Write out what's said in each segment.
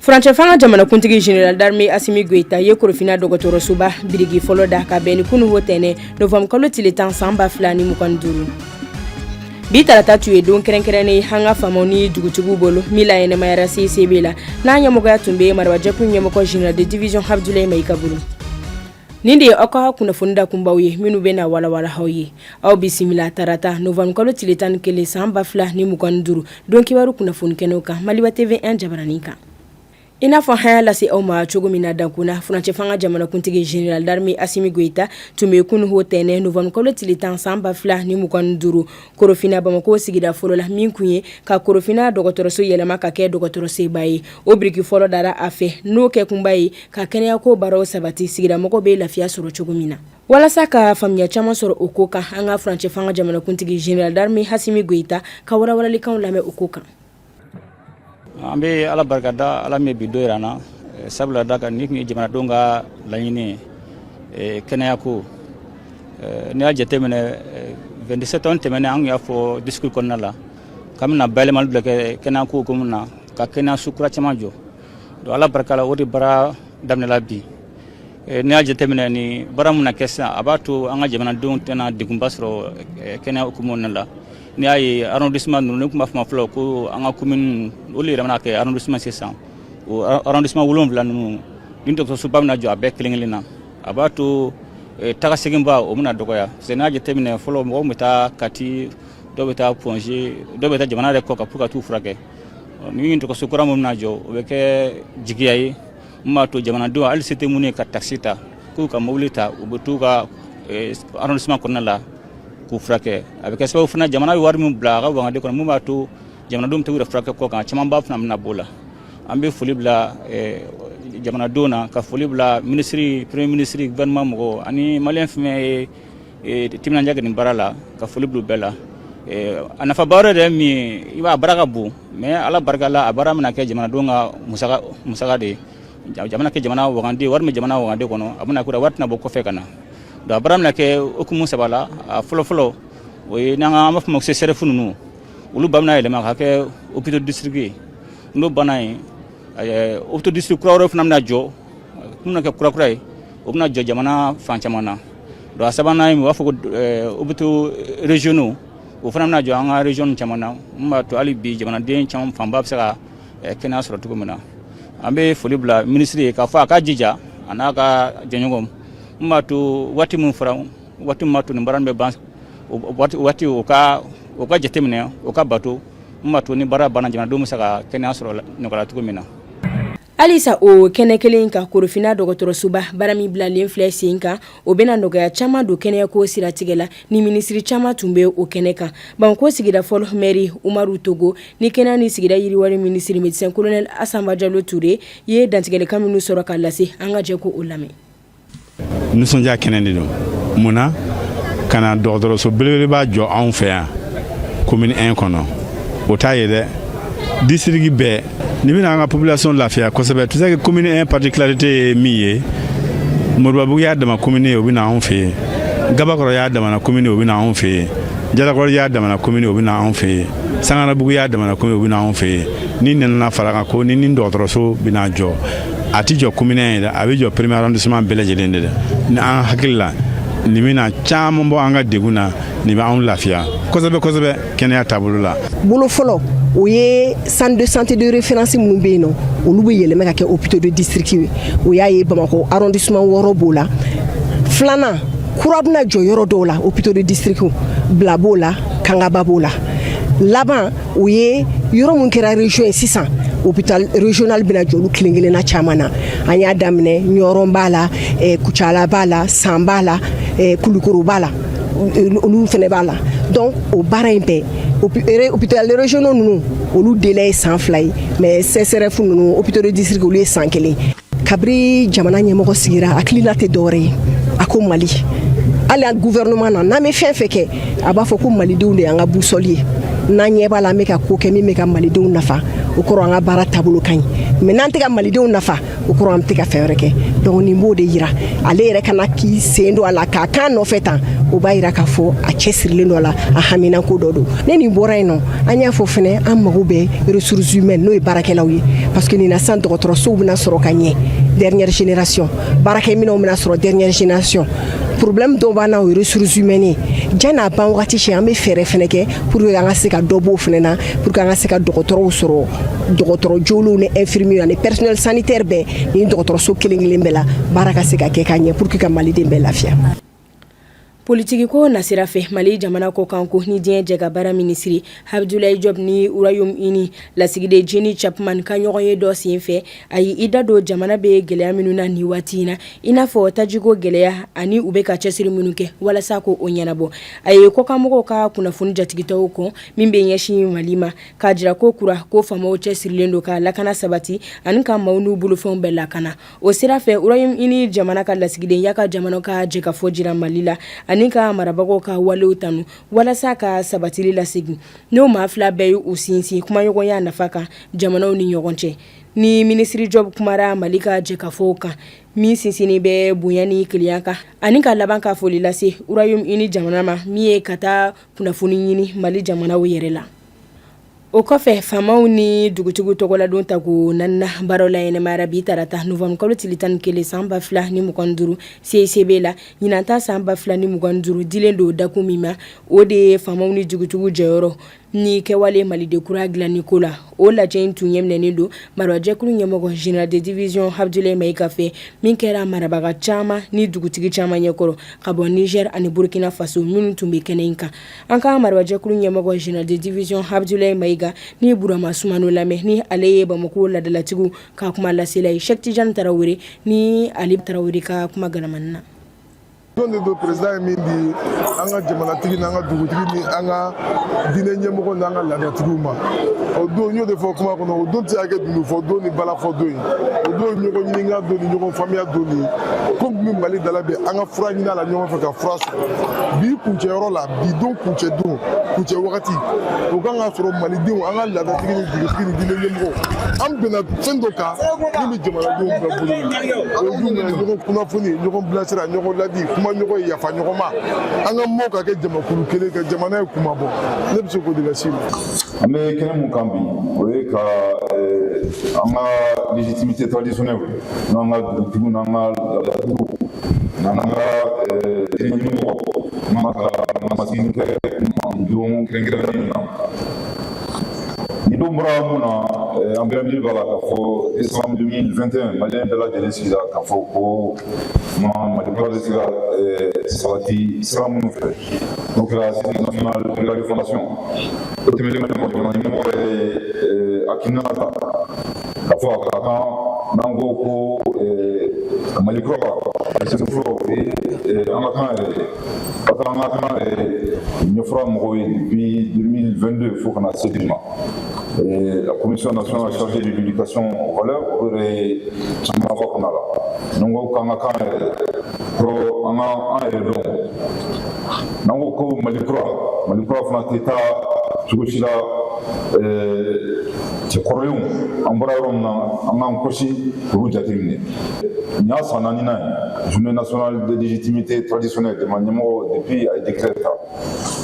furancɛfanga jamanakuntigi general d'armée asimi goita ye korofina dɔgɔtɔrɔsoba biriki fɔlɔ da ka bɛn ni kunu o tɛnɛn novanbukalo tile tan san ba fila ni mugan duuru bi tarata tun ye don kɛrɛnkɛrɛnnen an ka faamaw ni dugutigiw bolo min laɲɛnamayara cicb la n'a ɲɛmɔgɔya tun bɛ marabajɛkulu ɲɛmɔgɔ general de division abdulayi mayiga bolo nin de ye aw ka kunnafoni dakunbaw ye minnu bɛ na walawala aw ye aw bisimila tarata novanbukalo tile tan ni kelen san ba fila ni mugan duuru don kibaru kunnafoni kɛnɛw kan maliba tv 1 jabaranin kan i n'a fɔ an y'a lase aw ma cogo min na dakun na furancɛ fanga jamanakuntigi general d'armée asimi goita tun bɛ kunu o tɛnɛn novembre kalo tile tan san ba fila ni mugan ni duuru korofina bamako sigida fɔlɔ la min kun ye ka korofina dɔgɔtɔrɔso yɛlɛma ka kɛ dɔgɔtɔrɔsoba ye o biriki fɔlɔ dara a fɛ n'o kɛkunba ye ka kɛnɛyako baaraw sabati sigidamɔgɔw bɛ lafiya sɔrɔ cogo min na walasa ka faamuya caman sɔrɔ o ko kan an ka furancɛ fanga jamanakuntigi general d'armée asimi goita ka walawalalikan lamɛn o ko kan an bɛ ala barikada ala min ye bi don jira an na eh, sabula da kan ni tun ye jamanadenw ka laɲini eh, kɛnɛya ko eh, n'i y'a jateminɛ 22 septembre tɛmɛnen an y'a fɔ discours kɔnɔna la k'an bɛna bayɛlɛmali bila kɛ kɛnɛya ko hukumu na ka kɛnɛyaso kura caman jɔ donc ala barika la o de baara daminɛla bi Eh, n'i y'a jateminɛ nin baara mana kɛ sisan a b'a to an ka jamanadenw tɛna degunba sɔrɔ eh, kɛnɛya hukumu na la n'i y'a ye arrondissement ninnu n'an tun b'a fɔ fɔlɔ ko an ka commune olu yɛlɛmana kɛ arrondissement sisan o arrondissement wolonwula ninnu ni dɔgɔtɔrɔsoba bɛna jɔ a bɛɛ kelen kelen na a b'a to eh, taga seginba o bɛna dɔgɔya parce que n'a jateminɛ fɔlɔ mɔgɔw tun bɛ taa kati dɔw bɛ taa point g dɔw bɛ taa jamana yɛrɛ kɔkan pour ka t'u furakɛ ni dɔgɔtɔrɔso kura min bɛna jɔ o bɛ kɛ jigiya ye min b'a to jamanadenw hali se tɛ minnu ye ka takisi ta k'u ka mobili ta u bɛ t'u ka eh, arrondissement kɔnɔna la k'u furakɛ a bɛ kɛ sababu fana jamana bɛ wari min bila a ka wagande kɔnɔ min b'a to jamanadenw bɛ t'u yɛrɛ furakɛ kɔkan camanba fana bɛna b'o la an bɛ foli bila eh, jamanadenw na ka foli bila minisiri premier minisiri gouvernement mɔgɔw ani maliyɛn fɛn min ye Eh, timinandiya kɛ nin baara la ka foli bila u bɛɛ la eh, a nafaba yɛrɛ de ye min ye i b'a baara ka bon mais ala barika la a baara bɛna kɛ jamanadenw ka musaka musaka de ye jamana kɛ jamana wagande wari min jamana wagande kɔnɔ a bɛna k'o la wari tɛna bɔ kɔfɛ ka na donc a baara bɛna kɛ hukumu saba la a fɔlɔfɔlɔ o ye n'an b'a fɔ ma ko csref ninnu olu ba bɛna yɛlɛma ka kɛ hôpital district ye n'o banna yen eh, hôpital district kura wɛrɛ fana bɛna jɔ minnu bɛna kɛ kurakura ye o bɛna jɔ jamana fan caman na donc a sabanan ye u b'a fɔ ko hôpitaux régionaux o fana bɛna jɔ an ka région caman na min b'a to hali bi jamanaden caman fanba bɛ se ka kɛnɛya sɔrɔ cogo min na an bɛ foli bila minisiri ye k'a fɔ a ka jija a n'a ka jɛɲɔgɔnw min b'a to waati min fɔra waati min b'a to nin baara bɛ ban waati o ka o ka jateminɛ o ka bato min b'a to ni baara banna jamanadenw bɛ se ka kɛnɛya sɔrɔ nɔgɔya cogo min na Halisa o kɛnɛ kelen in kan korofinna dɔgɔtɔrɔsoba baara min bilalen filɛ sen kan o bɛna nɔgɔya caman don kɛnɛyako siratigɛ la ni minisiri caman tun bɛ o kɛnɛ kan bamakɔ sigida fɔlɔ mɛri umaru togo ni kɛnɛya ni sigida yiriwali minisiri médecin colonel asa bajalo ture ye dantigɛlikan minnu sɔrɔ ka lase an ka jɛ k'o lamɛn nisɔndiya kɛnɛ de don mun na ka na dɔgɔtɔrɔso belebeleba jɔ anw fɛ yan komini 1 kɔnɔ o t'a ye dɛ disirigi bɛɛ nin bɛna an ka population lafiya kosɛbɛ tu sais que komini 1 particularité ye min ye moribabugu y'a dama komini ye o bɛna anw fɛ yen gabakɔrɔ y'a damana komini o bɛna anw fɛ yen jalakɔrɔ y'a damana komini o bɛna anw fɛ yen sangarabugu y'a damana komini o bɛna anw fɛ yen nin nana fara a kan ko ni nin dɔgɔtɔrɔso bɛna jɔ a tɛ jɔ komini 1 ye dɛ a bɛ jɔ premier arrondissement bɛɛ lajɛlen de ye ni an hakili la nin bɛna caman bɔ an ka degun na nin bɛ anw lafiya kosɛbɛ kosɛbɛ kɛnɛya taabolo la bolo fɔlɔ o ye centre de santé de référence minnu bɛ yen nɔ olu bɛ yɛlɛmɛ ka kɛ hôpitaux de district ye o y'a ye bamakɔ arrondissement wɔɔrɔ b'o la filanan kura bɛna jɔ yɔrɔ dɔw la hôpitaux de district bila b'o la kangaba b'o la laban o ye yɔrɔ min kɛra région ye sisan hôpital régional bɛna jɔ olu kelen kelenna caman na an y'a daminɛ ɲɔrɔn b'a la eh, kucala b'a la san b'a la eh, kulukoro b'a la olu fɛnɛ b'a la donc o baara in bɛɛ hôpital régionaux ninnu olu délai ye san fila ye mais csref ninnu hôpitaux de district olu ye san kelen kabiri jamana ɲɛmɔgɔ sigira a hakilina tɛ dɔwɛrɛ ye a ko mali hali an guvɛrɛnɛman na n'an bɛ fɛn fɛn kɛ a b'a fɔ ko malidenw de y'an ka busɔli ye n'an ɲɛ b'a la an bɛ ka ko kɛ min bɛ ka malidenw nafa o kɔrɔ an ka baara taabolo ka ɲi mais n'an tɛ ka malidenw nafa o kɔrɔ an bɛ tɛ ka fɛn wɛrɛ kɛ donc nin b'o de yira ale yɛrɛ ka na k'i sen don a la k'a kan nɔfɛ tan o b'a yira k'a fɔ a cɛsirilen don a la a haminanko dɔ don ne nin bɔra yen nɔ an y'a fɔ fana an mago bɛ ressources humaines n'o ye baarakɛlaw ye parce que nin na sisan dɔgɔtɔrɔsow bɛna sɔrɔ ka ɲɛ dernière génération baarakɛminɛnw bɛna sɔrɔ dernière génération problème dɔw b'an na o ye ressources humaines ye yan n'a ban wagati cɛ an bɛ fɛɛrɛ fana kɛ pour que an ka se ka dɔ b'o fana na pour que an ka se ka dɔgɔtɔrɔw sɔrɔ dɔgɔtɔrɔ jolenw ni infirmiers ani personnel sanitaire bɛɛ nin dɔgɔtɔrɔso kelen kelen bɛɛ la baara ka se ka kɛ ka ɲɛ pour que ka maliden bɛɛ lafiya politigi ko nasira fɛ mali jamana kɔkanko ni diɲɛ jɛkabaara minisiri abdulayi job ni royaume-uni lasigiden jeni chapman ka ɲɔgɔn ye dɔ sen fɛ a ye i da don jamana bɛ gɛlɛya minnu na ni waati in na i n'a fɔ tajiko gɛlɛya ani u bɛ ka cɛsiri minnu kɛ walasa ko o ɲɛnabɔ a ye kɔkanmɔgɔw ka kunnafoni jatigɛtɔw kɔn min bɛ ɲɛsin mali ma k'a jira ko kura ko faamaw cɛsirilen don ka lakana sabati ani ka maaw n'u bolofɛnw bɛɛ lakana O sira fɛ royaume-uni jamana ka lasigiden y'a ka jamana ka jɛkafɔ jira mali la ani ka marabagaw ka walew tanu walasa ka sabatili lasegin n'o maa fila bɛɛ y'u sinsin kumaɲɔgɔnya nafa kan jamanaw ni ɲɔgɔn cɛ ni minisiri job kumara mali ka jɛkafɔw kan min sinsinnen bɛ bonya ni kelenya kan ani ka laban ka foli lase royaume-uni jamana ma min ye ka taa kunnafoni ɲini mali jamana yɛrɛ la o kɔfɛ faamaw ni dugutigiw tɔgɔladon tako naaninan baaraw laɲɛnamayara bi tarata nowanburukalo tile tan ni kelen san ba fila ni mugan ni duuru CICB la ɲinan ta san ba fila ni mugan ni duuru dilen don dakun min ma o de ye faamaw ni dugutigiw jɔyɔrɔ ni kɛwale maliden kura dilanni ko la o lajɛ in tun ɲɛminɛnen don marabajɛkulu ɲɛmɔgɔ général de division abdulayi maiga fɛ min kɛra marabaga caman ni dugutigi caman ɲɛkɔrɔ ka bɔ nizɛri ani burukina faso minnu tun bɛ kɛnɛ in kan An ka marabajɛkulu ɲɛmɔgɔ général de division abdulayi maiga ni burama sumano lamɛn ni ale ye bamakɔ laadalatigiw ka kumalasela ye sɛki tijan tarawele ni ali tarawele ka kumakanminɛnan na don don président ye min di an ka jamanatigi n'an ka dugutigi ni an ka diinɛ ɲɛmɔgɔ n'an ka laadatigiw ma o don n y'o de fɔ kuma kɔnɔ o don tɛ se ka kɛ dununfɔ don ni balafɔ don ye o don ye ɲɔgɔn ɲininka don ni ɲɔgɔn faamuya don ye ko min bɛ mali da la bi an ka fura ɲini a la ɲɔgɔn fɛ ka fura sɔrɔ bi kuncɛyɔrɔ la bi don kuncɛ don kuncɛ wagati o kan ka sɔrɔ malidenw an ka laadatigi ni dugutigi ni diinɛ ɲɛmɔgɔ an bɛnna fɛn dɔ kan min bɛ jamanadenw bɛɛ bolo o ye jumɛn ye ɲɔgɔn kunnafoni ɲɔgɔn bilasira ɲɔgɔn ladi kuma ɲɔgɔn ye yafa ɲɔgɔn ma an ka mɔɔ ka kɛ jamakulu kelen ka jamana ye kuma bɔ ne bɛ se k'o de las'i ma an bɛ kɛnɛ mun kan bi o ye ka an ka légitimité traditionnelle n'an ka dugutigiw n'an ka laadatigiw n'an ka ɲɛmɔgɔ kuma ka masigi kɛ don kɛrɛnkɛrɛnnen na nin don bɔra mun na an bɛɛ hakili b'a la k'a fɔ décembre 2021 maliyɛn bɛɛ lajɛlen sigira k'a fɔ ko ma mali kura bɛ se ka sabati sira minnu fɛ n'o kɛra assises nationales de la refondation o tɛmɛnen kɔfɛ jamana ɲɛmɔgɔ yɛrɛ ye hakilina ta k'a fɔ a ka kan n'an ko ko eh, mali kura a sen fɔlɔ o ye eh, an ka kan yɛrɛ de ka taa an ka kan ɲɛfɔra mɔgɔw ye depuis 2022 fo ka na se bi ma eh, la commission nationale chargée de l'éducation aux valeurs o yɛrɛ ye caman fɔ kɔnɔna la n'an ko k'an ka kan yɛrɛ kɔrɔ an ka an yɛrɛ dɔn n'an ko ko mali kura mali kura fana tɛ taa cogo si la cɛ kɔrɔlenw an bɔra yɔrɔ min na an k'an kɔsi k'olu jateminɛ nin y'a san naaninan ye journée nationale des légitimités traditionnelles jamana ɲɛmɔgɔ depuis a ye décret ta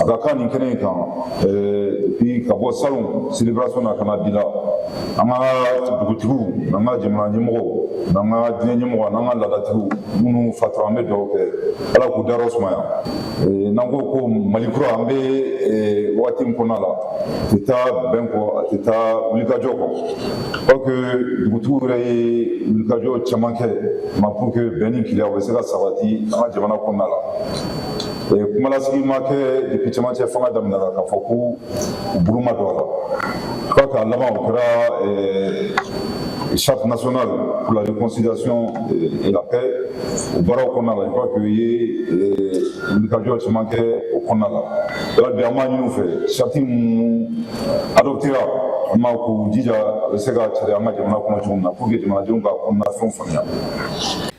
a ka kan nin kɛnɛ in kan depuis ka bɔ salon célébration na ka na bi la an ka dugutigiw n'an ka jamana ɲɛmɔgɔw n'an ka diinɛ ɲɛmɔgɔ n'an ka laadatigiw minnu fatura an bɛ dugawu kɛ ala k'u dayɔrɔ sumaya n'an ko ko mali kura an bɛ waati min kɔnɔna la a tɛ taa bɛn kɔ a tɛ taa wulikajɔ kɔ parce que dugutigiw yɛrɛ ye wulikajɔ caman kɛ ma pour que bɛn ni kelenya bɛ se ka sabati an ka jamana kɔnɔna la kumalasigi ma kɛ depuis cɛmancɛ fanga daminɛna k'a fɔ ko u bolo ma don a la fo k'a laban o kɛra charte nationale pour la réconciliation et la paix o baaraw kɔnɔna la i b'a fɔ u ye wulikajɔ caman kɛ o kɔnɔna la yɔrɔ bi an b'a ɲini u fɛ charte minnu adoptera an b'a k'u jija a bɛ se ka cari an ka jamana kɔnɔ cogo min na pour que jamanadenw ka kɔnɔna fɛnw faamuya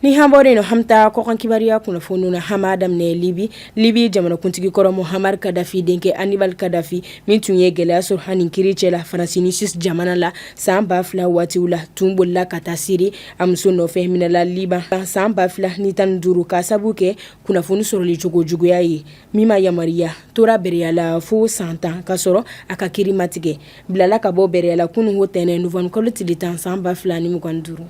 ni hambɔre no hamta kɔkan kibaruya kunnafoni na an b'a daminɛ libi libi jamanakuntigi kɔrɔ muhamar kadafi denkɛ anibal kadafi min tun ye gɛlɛya sɔrɔ a ni kiiri cɛ la faransi ni suisse jamana la san ba fila waatiw la tun bolila ka taa siri a muso nɔfɛ minɛla liban san ba fila ni tan ni duuru ka sabu kɛ kunnafoni sɔrɔli cogo juguya ye min ma yamaruya tora bereyala fo san tan ka sɔrɔ a ka kiiri ma tigɛ bilala ka bɔ bereyala kunun ntɛnɛn novembre kalo tile tan san ba fila ni mugan duuru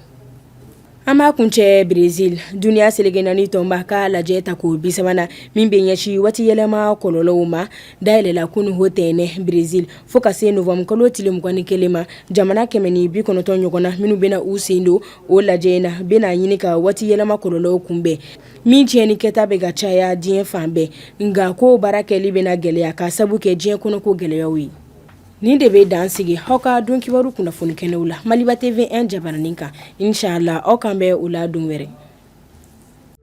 an b'a kuncɛ brezil duniya seleke naani tɔnba ka lajɛ tako bisabanan min bɛ ɲɛsin waati yɛlɛma kɔlɔlɔw ma dayɛlɛla kunun ntɛnɛn brezil fo ka se novembre kalo tile mugan ni kelen ma jamana kɛmɛ ni bi kɔnɔntɔn ɲɔgɔn na minnu bɛna u sen don o lajɛ in na bɛna ɲini ka waati yɛlɛma kɔlɔlɔw kunbɛn min tiɲɛni kɛta bɛ ka caya diɲɛ fan bɛɛ nka k'o baara kɛli bɛna gɛlɛya ka sabu kɛ diɲɛ kɔnɔko gɛlɛyaw ye nin de bɛ dan sigi aw ka don kibaru kunnafoni kɛnɛw la maliba tv 1 jabaranin kan inshallah aw k'an bɛn o la don wɛrɛ